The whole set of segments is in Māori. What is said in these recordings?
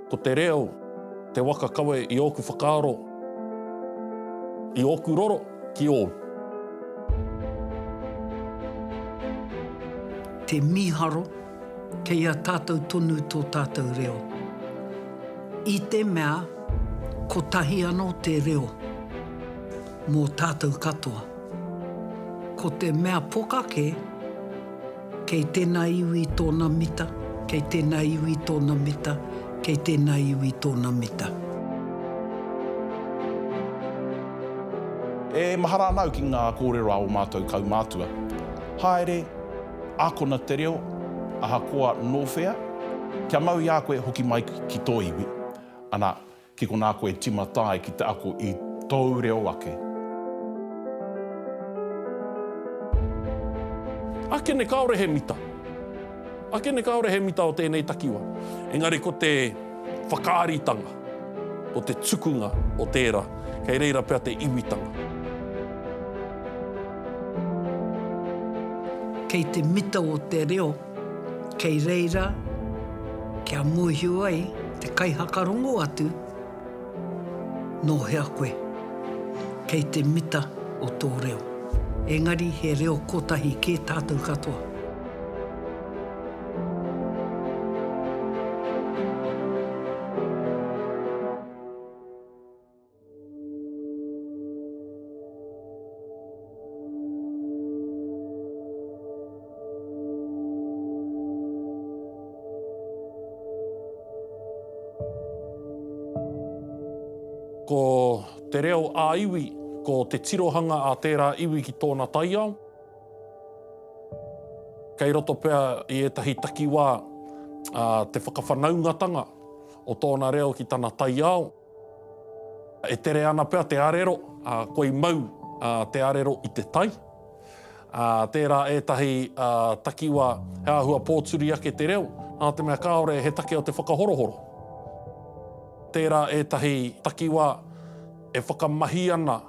Ko te reo te waka kawe i ōku whakaaro, i ōku roro ki ōu. Te mīharo, kei a tātou tonu tō tātou reo. I te mea, kotahi anō te reo mō tātou katoa. Ko te mea pokake, Kei tēnā iwi tōna mita, kei tēnā iwi tōna mita, kei tēnā iwi tōna mita. E mahara ana au ki ngā kōrero a ō mātou kaumātua. Haere, akona te reo, ahakoa nō whea, kia mau i a koe hoki mai ki tō iwi. Ana, Ki konā koe tīmata ai ki te ako i tōu reo ake. Ake nei kāore he mita. Ake nei kāore he mita o tēnei takiwa. Engari ko te whakaaritanga, ko te tukunga o tērā, kei reira pea te iwitanga. Kei te mita o te reo. Kei reira kia mōhio ai te kaihakarongo atu nō hea koe, kei te mita o tō reo. Engari he reo kotahi kē tātou katoa. Ko te reo ā-iwi, ko te tirohanga a tērā iwi ki tōna taiao. Kei roto pea i ētahi takiwā te whakawhanaungatanga o tōna reo ki tana taiao. E tere ana pea te arero, koi mau te arero i te tai. Tērā ētahi takiwa he āhua pōturi ake te reo, nā te mea kāore he take o te whakahorohoro. Tērā ētahi takiwa e whakamahi ana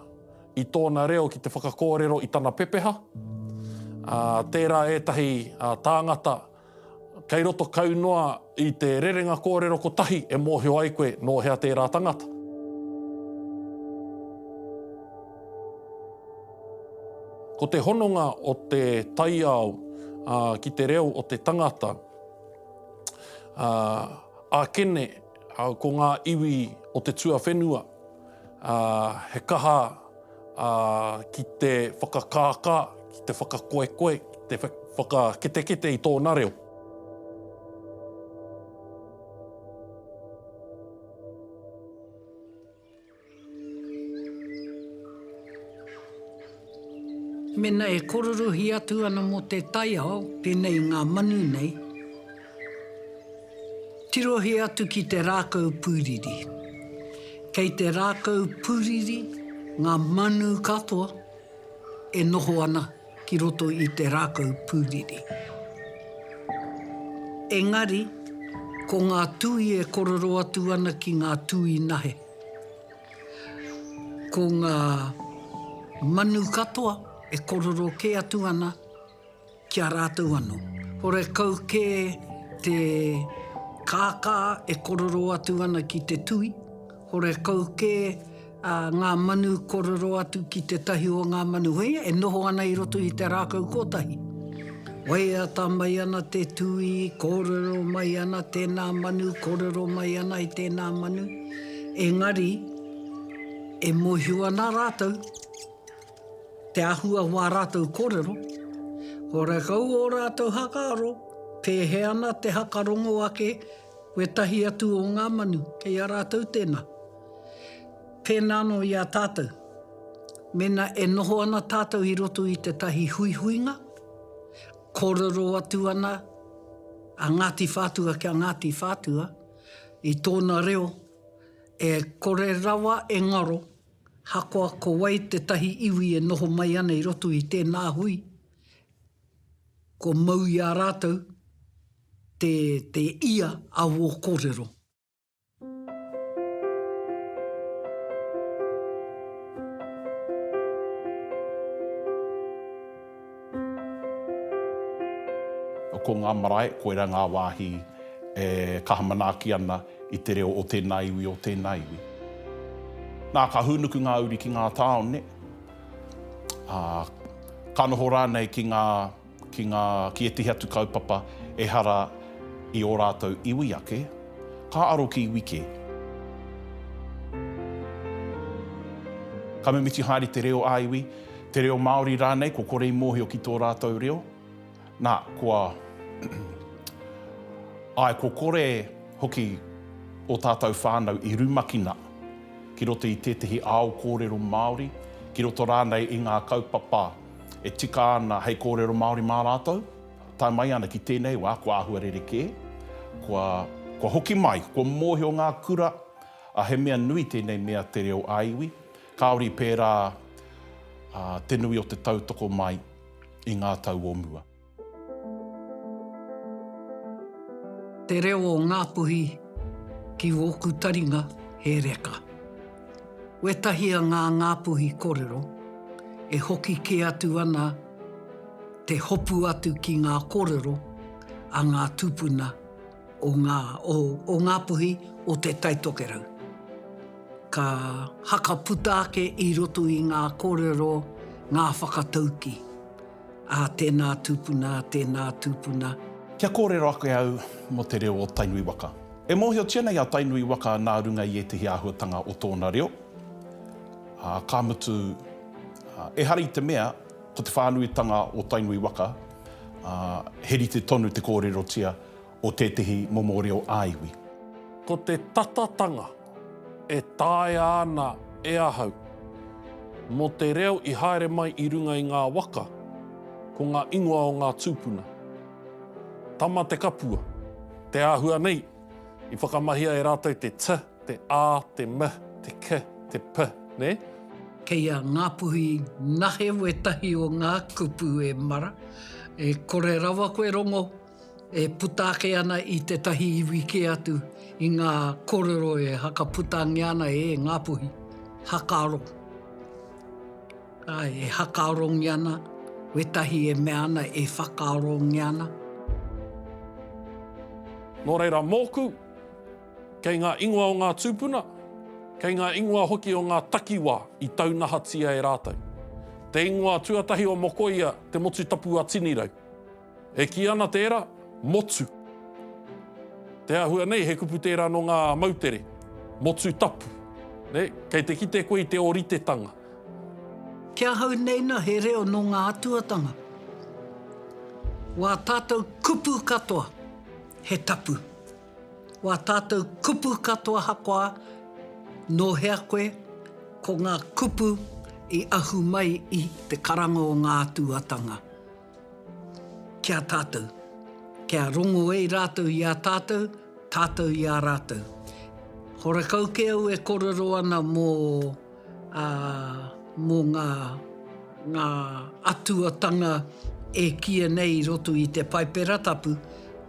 i tōna reo ki te whakakōrero i tana pepeha. Tērā ētahi tāngata Kei roto kau noa i te rerenga kōrero kotahi e mōhio ai koe nō hea tērā tangata. Ko te hononga o te taiao ki te reo o te tangata, ākene ko ngā iwi o te tuawhenua, he kaha, ā, ki te whakakākā, ki te whakakoekoe, ki te whakaketekete i tōna reo. Mēnā e kōrorohi atu ana mō te taiao, pēnei i ngā manu nei, Tirohia atu ki te rākau pūriri. Kei te rākau pūriri ngā manu katoa e noho ana ki roto i te rākau pūriri. Engari, ko ngā tui e korero atu ana ki ngā tui nahe. Ko ngā manu katoa e korero kē atu ana Ki a rātou anō. Horekau kē te kākā e korero atu ana ki te tui, horekau kē ngā manu korero atu ki tētahi o ngā manu hei, e noho ana i roto i te rākau kōtahi. Waiata mai ana te tui, kōrero mai ana tēnā manu, kōrero mai ana i tēnā manu, engari e mōhio ana rātou. Te āhua o ā rātou kōrero, ko rekau ō rātou hakaaro, pēhea ana te hakarongo ake wētahi atu o ngā manu kei a rātou tēnā. Pēnā anō i a tātou, mēnā e noho ana tātou i roto i tētahi huihuinga, kōrero atu ana a Ngāti Whātua ki a Ngāti Whātua i tōna reo, e kore rawa e ngaro. Ahakoa ko wai tētahi iwi e noho mai ana i roto i tēnā hui, kua mau i a rātou te, te ia a wō kōrero. Ko ngā marae, koirā ngā wāhi e kaha manaaki ana i te reo o tēnā iwi, o tēnā iwi. Nā, ka hūnuku ngā uri ki ngā tāone, ā, ka noho rānei ki ngā, ki ngā, ki ētahi atu kaupapa ehara i ō rātou iwi ake, ka aro ki iwi kē. Ka mimiti haere te reo ā-iwi. Te reo Māori rānei, kua kore i mōhio ki tō rātou reo. Nā, kua Āe, kua kore hoki ō tātou whānau i rumakina ki roto i tētahi ao kōrero Māori, ki roto rānei i ngā kaupapa e tika ana hei kōrero Māori mā rātou. Tae mai ana ki tēnei wā, kua āhua rerekē, kua, kua hoki mai, kua mōhio ngā kura, ā, he mea nui tēnei mea te reo ā-iwi. Kāore i pērā te nui o te tautoko mai i ngā tau o mua. Te reo o Ngāpuhi ki wōku taringa he reka. Wētahi a ngā Ngāpuhi korero e hoki kē atu ana te hopu atu ki ngā korero a ngā tupuna. o ngā, o, o Ngā Puhi o Te Tai Tokerau. Ka haka puta ake i roto i ngā kōrero ngā whakataukī, ā, tēnā tūpuna, tēnā tūpuna. Kia kōrero ake au mō te reo o Tainui waka. E mōhiotia nei a Tainui waka nā runga i ētehi āhuatanga o tōna reo, ā, ka mutu, ā, ehara i te mea ko te whānuitanga o Tainui waka, ā, he rite tonu te kōrerotia, o tētehi momo reo ā-iwi. Ko te tatatanga e taea ana e ahau, mō te reo i haere mai i runga i ngā waka, ko ngā ingoa o ngā tūpuna. Tama te kapua, te āhua nei, i whakamahia e rātou te t, te a, te m, te k, te p, nē? Kei a Ngāpuhi nahe wētahi o ngā kupu e mara, e kore rawa koe rongo e puta ake ana i tētahi iwi kē atu i ngā kōrero e hakaputangia ana e Ngāpuhi, hakaaro. Āe, e hakaarongia ana, wētahi e mea ana e whakaarongia ana. Nō reira mōku, kei ngā ingoa o ngā tūpuna, kei ngā ingoa hoki o ngā takiwā i taunahatia e rātou. Te ingoa tuatahi o Mokoia te motu tapu a Tinirau. E kī ana tērā, motu. Te āhua nei, he kupu tērā nō ngā moutere, motu tapu. Nei, kei te kite koe i te ōritetanga. Ki ahau nei na he reo nō ngā atuatanga. Wā tātou kupu katoa, he tapu. Wā tātou kupu katoa hakoā nō hea koe, ko ngā kupu i ahu mai i te karanga o ngā atuatanga. ki a tātou, kia rongo ai rātou i a tātou, tātou i a rātou. Horekau kē au e kōrero ana mō ngā atuatanga e kīia nei i roto i te Paipera Tapu,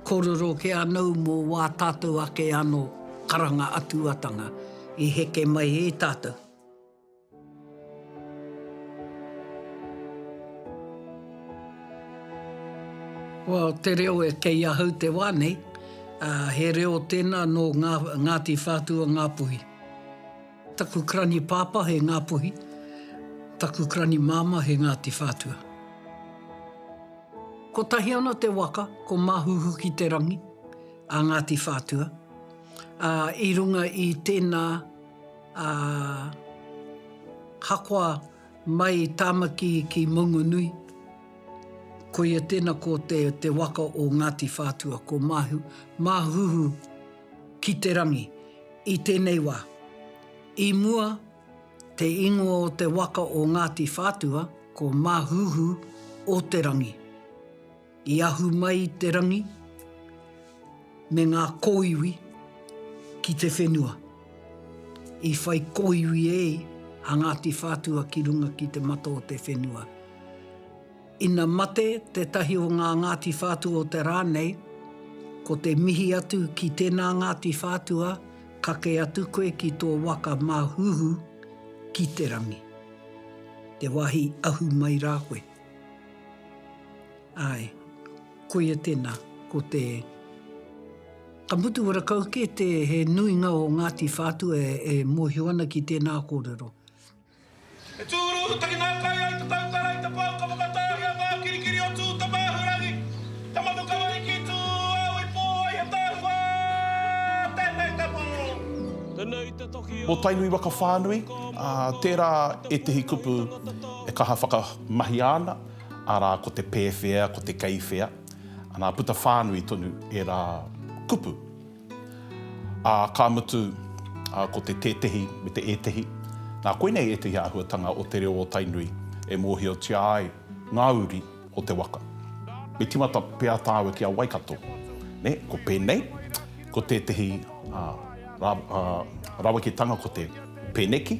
kōrero kē anōu mō wā tātou ake anō karanga atuatanga i heke mai e tātou. Well, te reo e kei ahau te wā nei, he reo tēnā nō Ngāti Whātua Ngāpuhi. Taku karani pāpā he Ngāpuhi, taku karani māmā he Ngāti Whātua. Kotahi ana te waka, ko Māhuhu-ki-te-rangi, a Ngāti Whātua, i runga i tēnā. Ā, hakoa mai Tāmaki ki Maunganui. Koia tēnā ko te waka o Ngāti Whātua, ko Māhu, Māhuhu ki te rangi. I tēnei wā, i mua te ingoa o te waka o Ngāti Whātua ko Māhuhu o te rangi. I ahu mai te rangi me ngā kōiwi ki te whenua. I whai kōiwi e a Ngāti Whātua ki runga ki te mata o te whenua. Ina mate tētahi o ngā Ngāti Whātua o te rā nei, ko te mihi atu ki tēnā Ngāti Whātua, kake atu koe ki tō waka māhuhu ki te rangi. Te wāhi ahu mai rā koe. Ae, koia tena, ko te, ka mutu ora kau ke te he nuinga o Ngati Whatua e mohio ana ki tena korero. E tūruruhu takinaakai ai te tautara i te pou ka whakatāhia ngā kirikiri o Tū Tamāhurangi, Tamanu Kawariki, Tū Au i pō ai he tāhua tēnei tapu. Mo Tainui Waka Whānui, tērā ētehi kupu. E kaha whakamahia ana, arā, ko te pēwhea, ko te kei whea, anā, puta whānui tonu ērā kupu. Ā, ka mutu, ko te tētehi me te ētehi, nā, koinei ētehi āhuatanga o te reo o Tainui e mōhiotia ai ngā uri o te waka. Me tīmata pea tāua ki a Waikato, nē, ko pēnei, ko tētehi raweketanga ko te pēneki,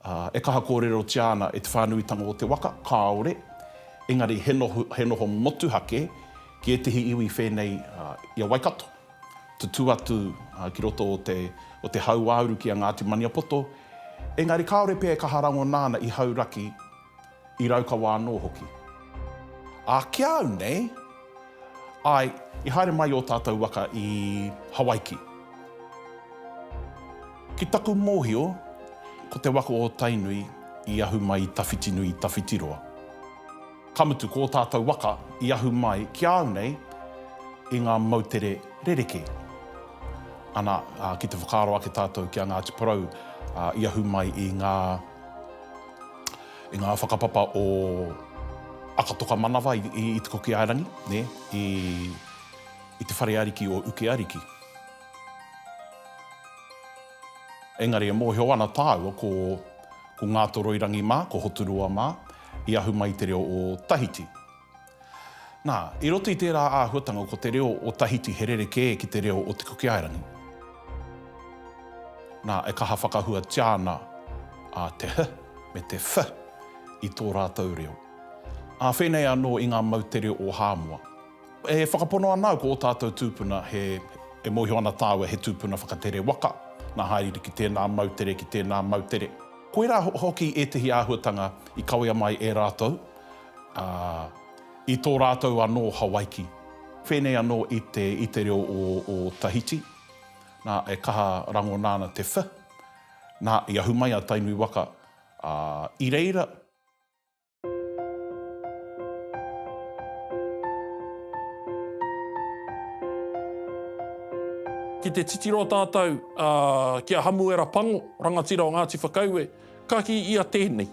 Ā, e kaha kōrerotia ana e te whānuitanga o te waka, kāore, engari he noho, he noho motuhake ki ētehi iwi whēnei i a Waikato, tutū atu ki roto o te, o te hauāuru ki a Ngāti Maniapoto, engari kāore pea e kaha rangona ana i Hauraki, I Raukawa anō hoki. Ā, ki a au nei, āe, i haere mai ō tātou waka i Hawaiki. Ki taku mōhio, ko te waka o Tainui i ahu mai i Tawhitinui i Tawhitiroa. Ka mutu, ko ō tātou waka i ahu mai ki a au nei i ngā moutere rerekē. Ana, ā, ki te whakaaro ake tātou ki a Ngāti Porou, ā, i ahu mai i ngā. I ngā whakapapa o Akatokamanawa i Te Kokiaerangi, nē, i, i te whare ariki o Ukeariki. Engari e mōhio ana tāua ko, ko Ngātoroirangi mā, ko Hoturoa mā, i ahu mai te reo o Tahiti. Nā, i roto i tērā āhuatanga ko te reo o Tahiti he rerekē ki te reo o Te Kukiaerangi. Nā, e kaha whakahuatia ana a te h me te f i tō rātou reo. Ā whēnei anō i ngā moutere o Hāmoa. E whakapono ana au ko ō tātou tūpuna he, e mōhio ana tāua he tūpuna whakatere waka, nā hāereere ki tēnā moutere, ki tēnā moutere. Koirā hoki ētehi āhuatanga i kawea mai e rātou, Ā, i tō rātou anō Hawaiki. Whēnei anō i te, i te reo o, o Tahiti. Nā, e kaha rangona ana te wh. Nā, i ahu mai a Tainui waka, ā, i reira. Ki te titiro tātou, ā, ki a Hamuera Pango, rangatira o Ngāti Whakaue. Ka kī ia tēnei.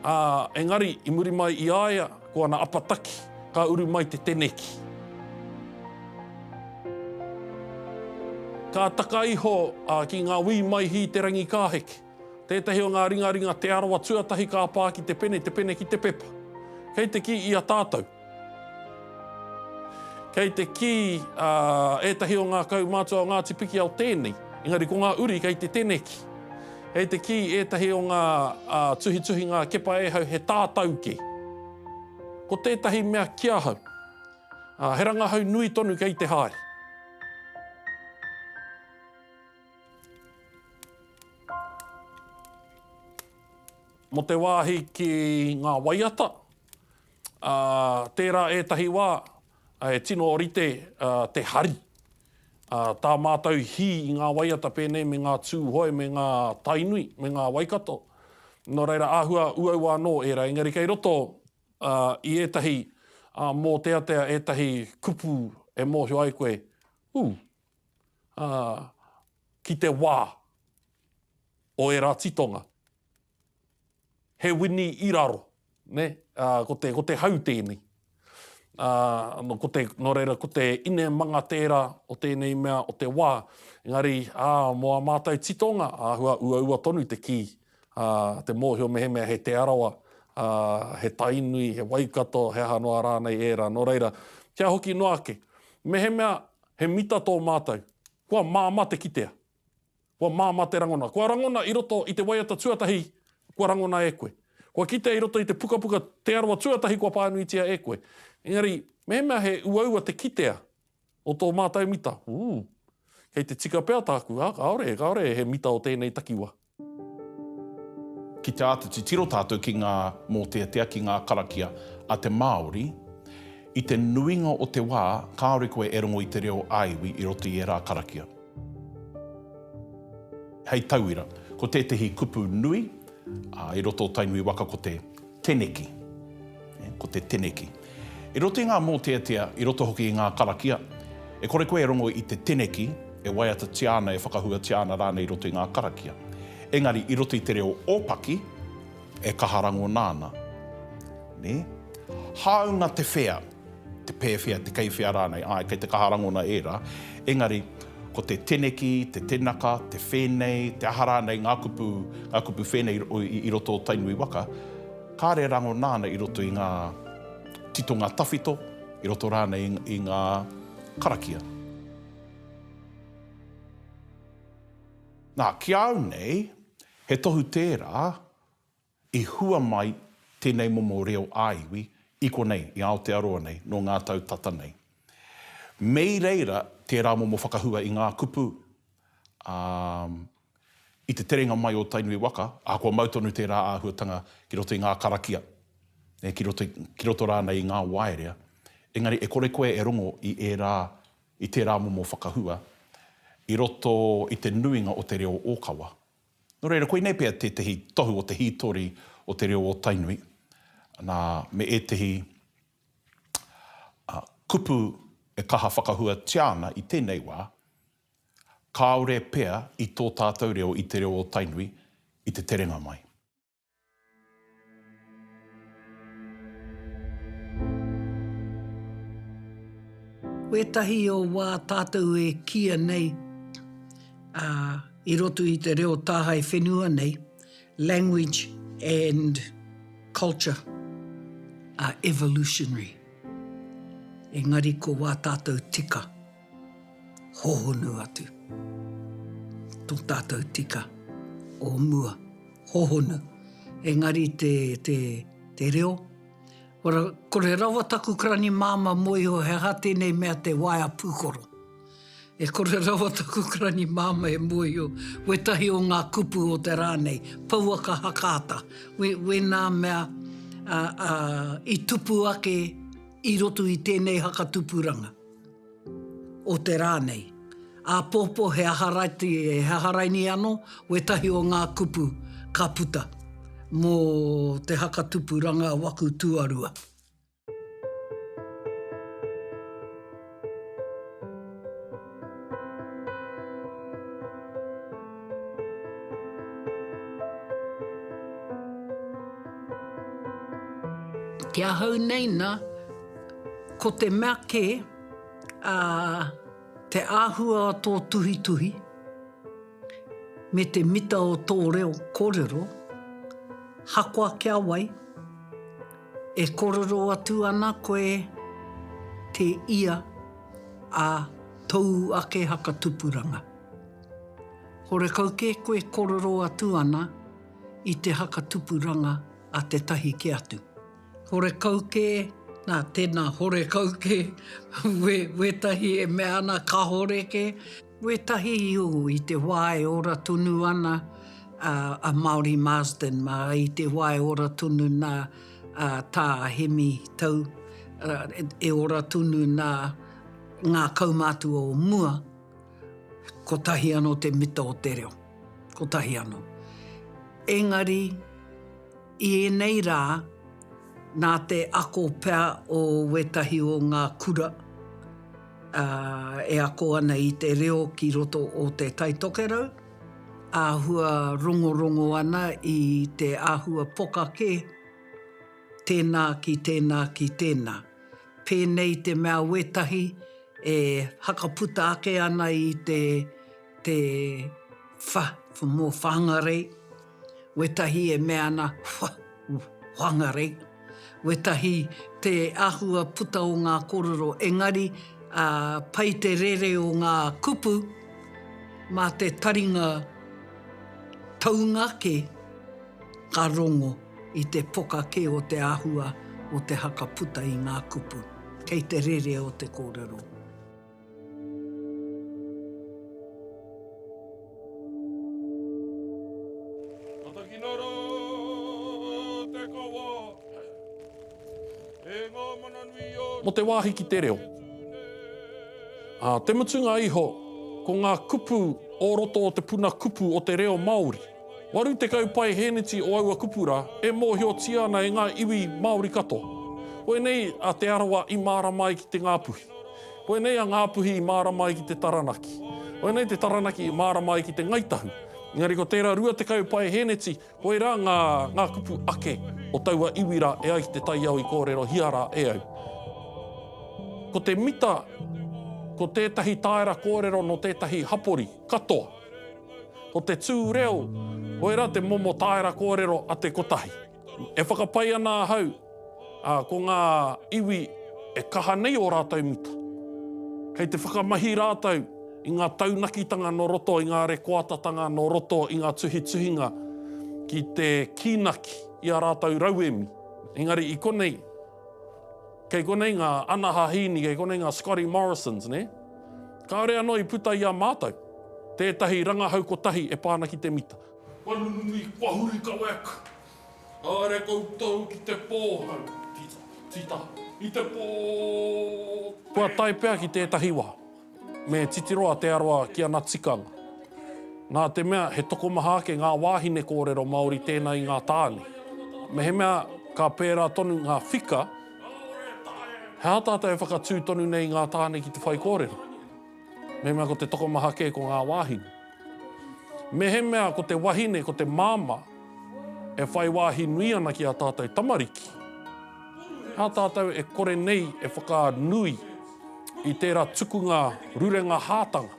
Ā, engari, i muri mai i a ia, ko ana apataki, ka uru mai te teneki. Ka taka iho ki ngā wī mai hī te rangi ka heke. Tētahi o ngā ringaringa Te Arawa tuatahi ka pā ki te pene, te pene ki te pepa. Kei te kī i a tātou. Kei te kī a ētahi o ngā kaumātua o Ngāti Pikiao tēnei, engari ko ngā uri kei te teneki. Kei te kī ētahi o ngā tuhituhinga kepa e hau he tātau kē. Ko tētahi mea ki ahau, he rangahau nui tonu kei te haere. Mō te wāhi ki ngā waiata, Ā, tērā ētahi wā, e tino orite te hari. Ā, tā mātou hī i ngā waiata pēnei me ngā Tūhoe me ngā Tainui me ngā Waikato. Nō reira, āhua uaua anō ērā, engari kei roto i ētahi mōteatea, ētahi kupu e mōhio ai koe, ū, ā, ki te wā o ērā titonga. He wini i raro, ne, ā, ko te, ko te hau tēnei. Ā, nō, ko te, nō reira, ko te inemanga tērā o tēnei mea, o te wā. Engari, ā, mō ā mātou titonga, āhua uaua tonu te kī, ā, te mōhio mehemea he Te Arawa, ā, he Tainui, he Waikato, he aha noa rānei ērā. Nō reira, kia hoki noa ake, mehemea he mita tō mātou, kua māmā te kitea. Kua māmā te rangona. Kua rangona i roto i te waiata tuatahi kua rangona e koe. Kua kitea i roto i te pukapuka Te Arawa Tuatahi kua pānuitia e koe. Engari, mehemea he uaua te kitea o tō mātou mita, ooh, kei te tika pea tāku, ā, kāore, kāore he mita o tēnei takiwā. Ki te āta titiro tātou ki ngā mōteatea, ki ngā karakia a te Māori, i te nuinga o te wā, kāore koe e rongo i te reo ā-iwi i roto i ērā karakia. Hei tauira, ko tētehi kupu nui i roto o Tainui waka ko te. Teneki. Ko te teneki. I roto i ngā mōteatea, i roto hoki i ngā karakia, e kore koe e rongo i te teneki e waiatatia ana, e whakahuatia ana rānei i roto i ngā karakia. Engari, i roto i te reo ōpaki, e kaha rangona ana. Nē? Hāunga te whea. te pēwhea, te kei whea rānei, āe, kei te kaha rangona ērā, engari, ko te teneki, te tenaka, te whēnei, te aha rānei ngā kupu, ngā kupu whēnei i roto o Tainui waka, kāre rangona ana i roto i ngā titonga tawhito, i roto rānei i ngā karakia. Nā, ki a au nei, he tohu tērā, I hua mai tēnei momo reo ā-iwi i konei, i Aotearoa nei, nō ngā tau tata nei. Me i reira tērā momo whakahua i ngā kupu, ā, i te terenga mai o Tainui waka, ahakoa mau tonu tērā āhuatanga ki roto i ngā karakia, ē, ki roto, ki roto rānei i ngā waerea, engari e kore koe e rongo i ērā, i tērā momo whakahua i roto i te nuinga o te reo ōkawa. Nō reira, koinei pea tētehi tohu o te hītori o te reo o Tainui, nā, me ētehi kupu e kaha whakahuatia ana i tēnei wā, kāore pea i tō tātou reo i te reo o Tainui i te terenga mai. Wētahi o wā tātou e kīia nei i roto i te reo tāhae whenua nei, language and culture are evolutionary, engari ko wā tātou tika. hohonu atu. Tō tātou tika o mua, hohonu. Engari te, te, te reo, kore, kore rawa taku karani māmā mō iho he aha tēnei mea te waea pūkoro. E kore rawa taku karani māmā e mōhio, wētahi o ngā kupu o te rā nei, pouaka hakaata, wē, wēnā mea a, a, i tupu ake i roto i tēnei haka tupuranga. o te rā nei. Āpōpō he aha raiti, he aha raini anō, wētahi o ngā kupu ka puta mō te haka tupuranga waku tuarua. Ki ahau nei nā. Ko te mea kē, ā, te āhua o tō tuhituhi me te mita o tō reo kōrero, hakoa kia wai, e kōrero atu ana koe te ia a tōu ake haka tupuranga. Horekau kē koe kōrero atu ana i te haka tupuranga a tētahi kē atu. Horekau kē, nā, tēnā, horekau kē, wē, wētahi e mea ana kāore kē. Wētahi, ū, i te wā e ora tonu ana a, a Māori Marsden mā, i te wā e ora tonu nā, a, tā Hemi Tau, a, e ora tonu nā ngā kaumātua o mua, kotahi anō te mita o te reo, kotahi anō. Engari. I ēnei rā, nā te ako pea o wētahi o ngā kura e ako ana i te reo ki roto o Te Tai Tokerau, āhua rongorongo ana i te āhua poka kē, tēnā ki tēnā ki tēnā. Pēnei te mea wētahi e whakaputa ake ana i te, te wha, for more whāngarei. wetahi e mea ana whangarei, wetahi te ahua puta o nga korero engari pai te rere o nga kupu ma te taringa taunga ke ka rongo i te poka ke o te ahua o te haka puta i nga kupu kei te rere o te korero. Matakinara te kawa e ngā mana nui o. Mō te wāhi ki te reo. Ā te mutunga iho, ko ngā kupu o roto o te puna kupu o te reo Māori. Waru tekau paeheneti o aua kupu rā e mōhiotia ana e ngā iwi Māori katoa. Koinei a Te Arawa i mārama ai ki te Ngāpuhi. Koinei a Ngā Puhi i mārama ai ki te Taranaki. Koinei te Taranaki i mārama ai ki te Ngai Tahu. Engari ko tērā 20 paeheneti, koirā ngā, ngā kupu ake o taua iwi rā e ai ki te taiao i kōrerohia rā e au. Ko te mita, ko tētahi tāera kōrero nō tētahi hapori, katoa. Ko te tū reo, koirā te momo tāera kōrero a te kotahi. E whakapae ana ahau, ā, ko ngā iwi e kaha nei ō rātou mita. Kei te whakamahi rātou i ngā taunakitanga nō roto i ngā rekoatatanga, nō roto i ngā tuhituhinga ki te kīnaki i ā rātou rauemi. Engari i konei, kei konei ngā Ana Hahīni, kei konei ngā Scotty Morrisons, nē? Kāore anō i puta i a mātou tētahi rangahau kotahi e pā ana ki te mita. Kua nunui, kua huri ka wek. Haere koutou ki te pōhau, tita, tita, i te pō. Kua tae pea ki tētahi wā. Me titiro a Te Arawa ki ana tikanga. Nā te mea he tokomaha ake ngā wāhine kōrero Māori tēnā i ngā tāne. Mehemea ka pērā tonu ngā whika, he aha tātou e whakatū tonu nei i ngā tāne ki te whaikōrero? Mehemea ko te tokomaha kē ko ngā wāhine. Mehemea ko te wahine, ko te māmā e whai wāhi nui ana ki ā tātou tamariki, nā tātou e kore nei e whakanui i tērā tukunga rurenga hātanga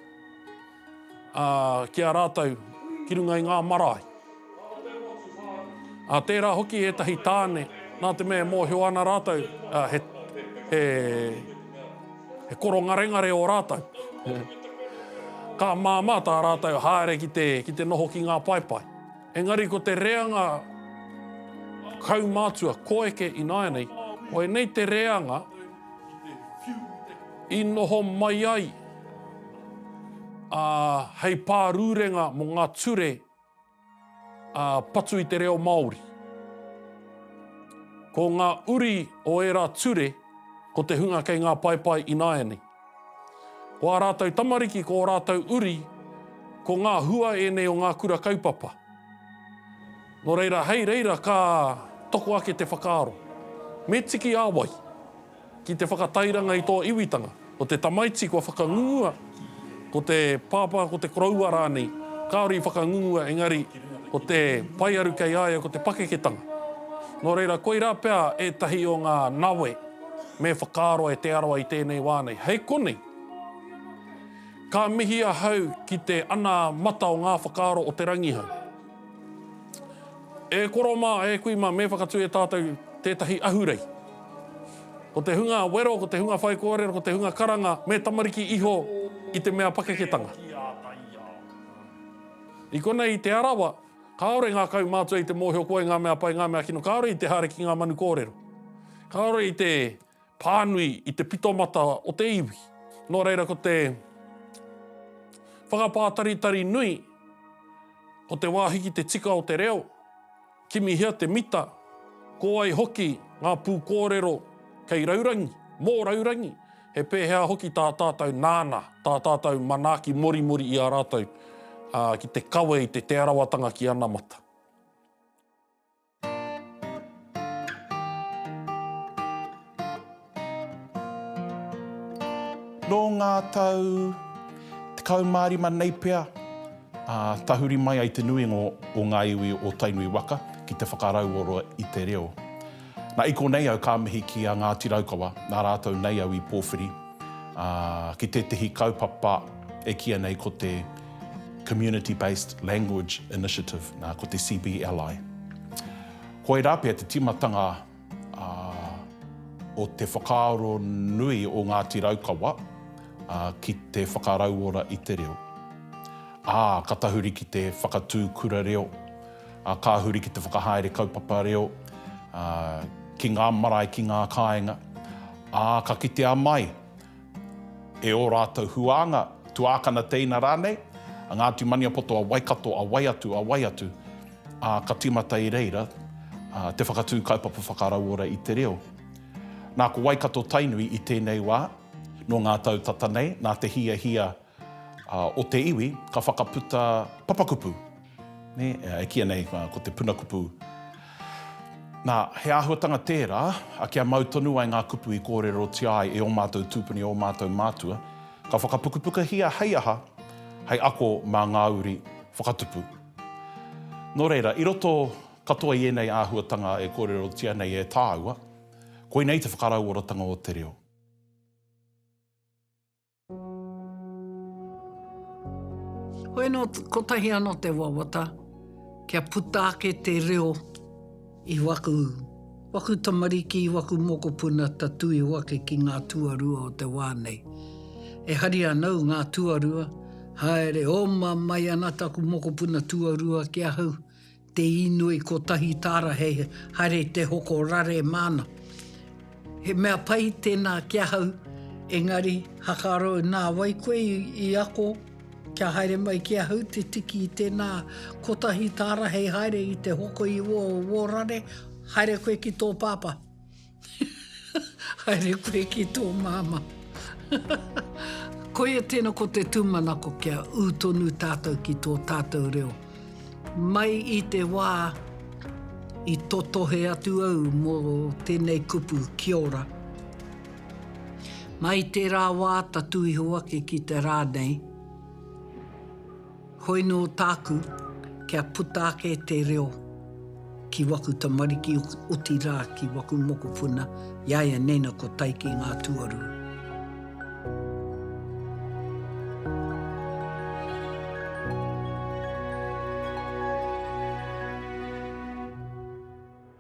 ki a rātou ki runga i ngā marae. Ā, tērā hoki ētahi tāne, nā te mea e mōhio ana rātou, ā, he, he, he korongarengare ō rātou. Ka māmā tā rātou haere ki te, ki te noho ki ngā paepae. Engari ko te reanga kaumātua koeke ināianei, koinei te reanga i noho mai ai ā, hei pārūrenga mō ngā ture Ā, patu i te reo Māori. Ko ngā uri o ērā ture ko te hunga kei ngā paepae ināianei. Ko ā rātou tamariki, ko ō rātou uri, ko ngā hua ēnei o ngā kura kaupapa. Nō reira, hei reira ka toko ake te whakaaro, me tiki ā wai? Ki te whakatairanga i tō iwitanga, ko te tamaiti kua whakangungua, ko te pāpā, ko te koroua rānei, kāore i whakangungua engari ko te paearu kei a ia ko te pakeketanga. Nō reira, koirā pea ētahi o ngā nawe me whakaaro e Te Arawa i tēnei wā nei. Hei konei, ka mihi ahau ki te anamata o ngā whakaaro o Te Rangihau. E koro mā, e kui mā, me whakatū e tātou tētahi ahurei. Ko te hunga wero, ko te hunga whaikōrero, ko te hunga karanga, me tamariki iho i te mea pakeketanga. I konei i Te Arawa, kāore ngā kaumātua i te mōhio koe ngā mea pai, ngā mea kino, kāore i te haere ki ngā manu kōrero. Kāore i te Pānui i te pitomata o te iwi. Nō reira ko te whakapātaritari nui, ko te wāhi ki te tika o te reo, kimihia te mita, ko wai hoki ngā pūkōrero kei raurangi, mō raurangi, he pēhea hoki tā tātou nāna, tā tātou manaaki morimori i a rātou ki te kawe i te Te Arawatanga ki anamata. Nō ngā tau 15 nei pea, tahuri mai ai te nuinga o ngā iwi o Tainui waka ki te whakarauora i te reo. Na, i konei au ka mihi ki a Ngāti Raukawa, nā rātou nei au i pōwhiri. ki tētehi kaupapa e kīia nei ko te Community Based Language Initiative, nā, ko te CBLI. Koirā pea te tīmatanga o te whakaaro nui o Ngāti Raukawa ki te whakarauora i te reo. Ā, ka tahuri ki te whakatū kura reo, Ā, ka huri ki te whakahaere kaupapa reo, ā, ki ngā marae, ki ngā kāinga, ā, ka kitea mai e ō rātou huānga, tuākana teina rānei, a Ngāti Maniapoto, a Waikato, a wai atu, a wai atu, ā, ka tīmata i reira, ā, te whakatū kaupapa whakarauora i te reo. Nā, ko Waikato-Tainui i tēnei wā, nō ngā tau tata nei, nā te hiahia, o te iwi, ka whakaputa papakupu, nē, e kīia nei ko te puna kupu. Nā, he āhuatanga tērā, a kia mau tonu ai ngā kupu i kōrerotia ai e ō mātou tūpuni, ō mātou mātua, ka whakapukupukahia hei aha, hei ako mā ngā uri whakatupu. Nō reira, i roto katoa i ēnei āhuatanga e kōrerotia nei e tāua, koinei te whakarauoratanga o te reo. Hoi anō, kotahi anō te wawata, kia puta ake te reo i waku, waku tamariki, waku mokopuna tatū iho ake ki ngā tuarua o te wā nei. E hari ana au ngā tuarua, haere oma mai ana taku mokopuna tuarua ki ahau, Te inoi kotahi tara he haere te hoko rare mana. He mea pai tena ki ahau engari hakaro na wai koe i ako kia haere mai ki ahau te tiki i tena kotahi tara hei haere i te hoko i wo rare haere koe ki to papa. Haere koe ki tō māmā. Koia tēnā ko te tūmanako kia ū tonu tātou ki tō tātou reo. Mai i te wā i totohe atu au mō tēnei kupu, Kia ora. Mai tērā wā tatū iho ake ki te rā nei. Koinō tāku, kia puta ake te reo ki waku tamariki, otirā ki waku mokopuna, iaianena ko Taiki ngā tuarua.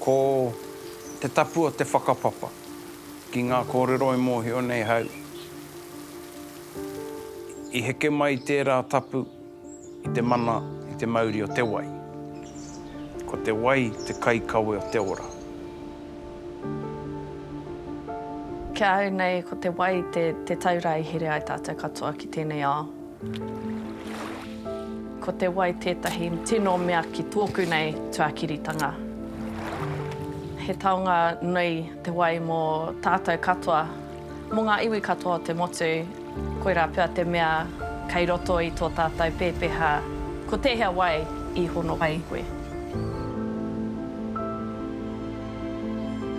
Ko te tapu o te whakapapa ki ngā kōrero e mōhio nei hau, i heke mai tērā tapu i te mana i te mauri o te wai. Ko te wai te kaikawe o te ora. Ki ahau nei, ko te wai te taura e here ai tātou katoa ki tēnei ao. Ko te wai tētahi tino mea ki tōku nei tuakiritanga. He taonga nui te wai mō tātou katoa, mō ngā iwi katoa o te motu, koirā pea te mea kei roto i tō tātou pēpeha ko tēhea wai i hono ai koe.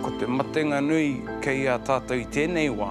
Ko te matenga nui kei a tātou i tēnei wā.